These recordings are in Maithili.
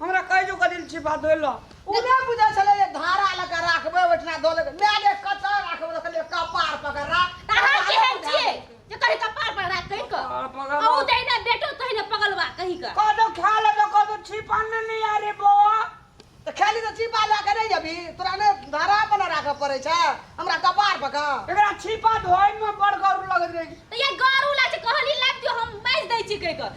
हमरा कहि जो कदिल छी बात होइल ओ नहि बुझै छलै जे धारा लऽ कऽ राखबै ओहिठिना दऽ लेबै माय गे कतऽ राखबै तऽ कहलियै कपार पकड़ राख अहाँ केहन छियै जे कहीं कपार पर राख कहीं क कपार पर राख। अहू जहिना बेटो तहिना पगलवा कहीं क कदो खा ले तो कदो छिपा ने नहीं आ रे बौआ तऽ खाली तऽ चिपा लऽ कऽ नहि अभी तोरा ने धारा पर ने राखऽ पड़ै छै हमरा कपार पकड़ एकरा छिपा धोए में बड़ गौर लगत रही तऽ ये गारू लाग छै कहली लाग दियो हम मारि दै छी कहि क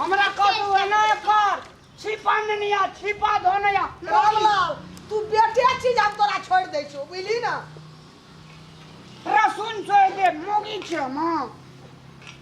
हमरा कथु एना कर छिपा ननिया छिपा धोनया रामलाल तू बेटे चीज हम तोरा छोड़ दे छो बुझली ना रसुन छोड़ दे मोगी छ मां